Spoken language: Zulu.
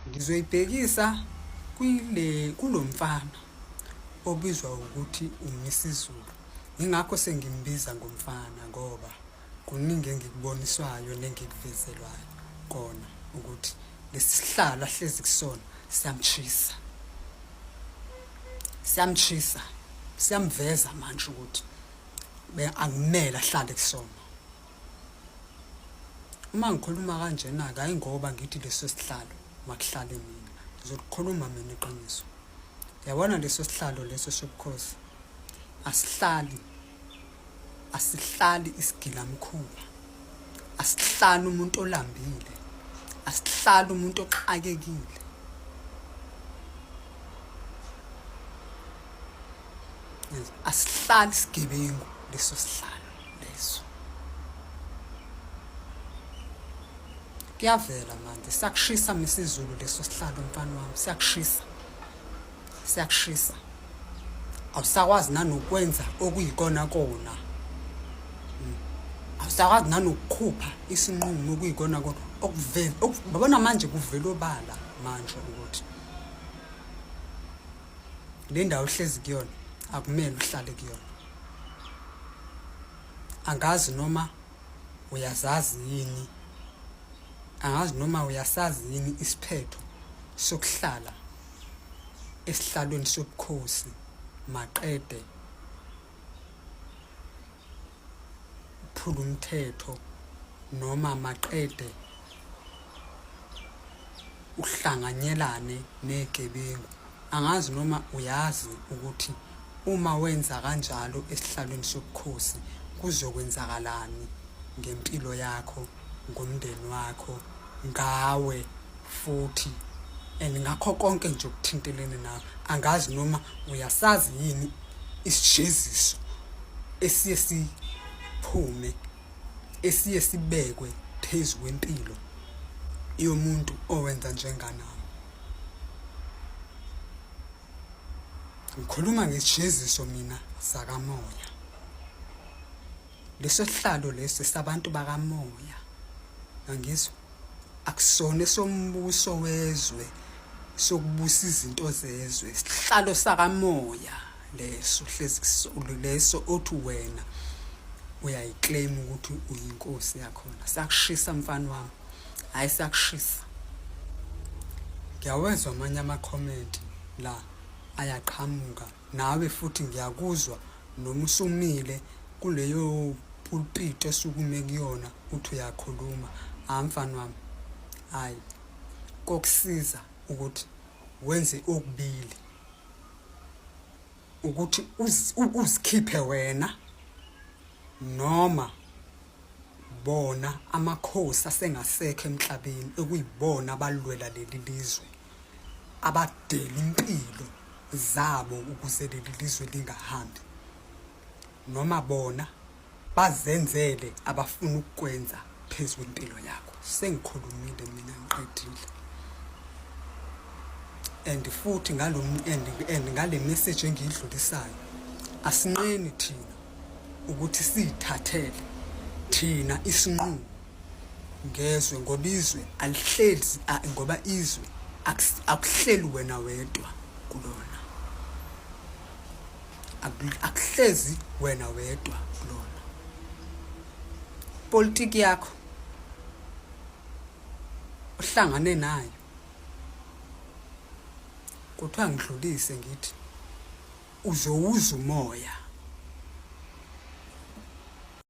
Ngizoyibhekisa kwile kulo mfana obizwa ukuthi uMisizulu. Yingakho sengimbiza ngomfana ngoba kuningi engikuboniswayo nengikuvezelwayo kona ukuthi lesihlalo ahlezi kusona siyamchisa. Siyamchisa, siyamveza manje ukuthi akumele ahlale kusona. Uma ngikhuluma kanjena-ke hhayi ngoba ngithi leso sihlalo makuhlale mina ngizolikhuluma mina iqiniso yabona leso sihlalo leso sobukhosi asihlali asihlali isigilamkhuba asihlali umuntu olambile asihlali umuntu oxakekile asihlali sigebengu leso sihlalo leso kuyavela manje siyakushisa misizulu leso sihlalo mfana wami siyakushisa siyakushisa awusakwazi nanokwenza okuyikona kona hmm. awusakwazi nanokukhupha isinqumo okuyikona kona okuvela babona manje kuvela obala manje ukuthi le ndawo ohlezi kuyona akumele uhlale kuyona angazi noma uyazazi yini angazi noma uyasazi yini isiphetho sokuhlala esihlalweni sobukhosi maqede phula umthetho noma maqede uhlanganyelane negebengu angazi noma uyazi ukuthi uma wenza kanjalo esihlalweni sobukhosi kuzokwenzakalani ngempilo yakho ngomndeni wakho ngawe futhi and ngakho konke nje okuthintelene nawe angazi noma uyasazi yini isijeziso esiye siphume esiye sibekwe phezu kwempilo yomuntu owenza njenganawe ngikhuluma ngesijeziso mina sakamoya Leso sihlalo lesi sabantu bakamoya. Angizwa. Akusona sombuso wezwe sokubusa izinto zezwe. Sihlalo sakamoya leso hlezi kusulu leso othi wena uyayiclaim ukuthi uyinkosi yakhona. Sakushisa mfana wami. Hayi sakushisa. Ngiyawezwa amanye ama comment la ayaqhamuka. Nawe futhi ngiyakuzwa noma usumile kuleyo pulpit esukume kuyona uthi uyakhuluma hayi mfana wami hayi kokusiza ukuthi wenze okubili ukuthi uzikhiphe wena noma bona amakhosi asengasekho emhlabeni ekuyibona abalwela leli lizwe abadela impilo zabo ukuze leli lizwe lingahambi noma bona bazenzele abafuna ukukwenza phezu kwempilo yakho sengikhulumile mina ngiqedile and futhi ngalo and and ngale message engiyidlulisayo asinqeni thina ukuthi sithathele thina isinqumo ngezwe ngoba izwe alihlezi ngoba izwe akuhleli wena wedwa kulona akuhlezi wena wedwa kulona politiki yakho uhlangane nayo kuthiwa ngidlulise ngithi uzowuza umoya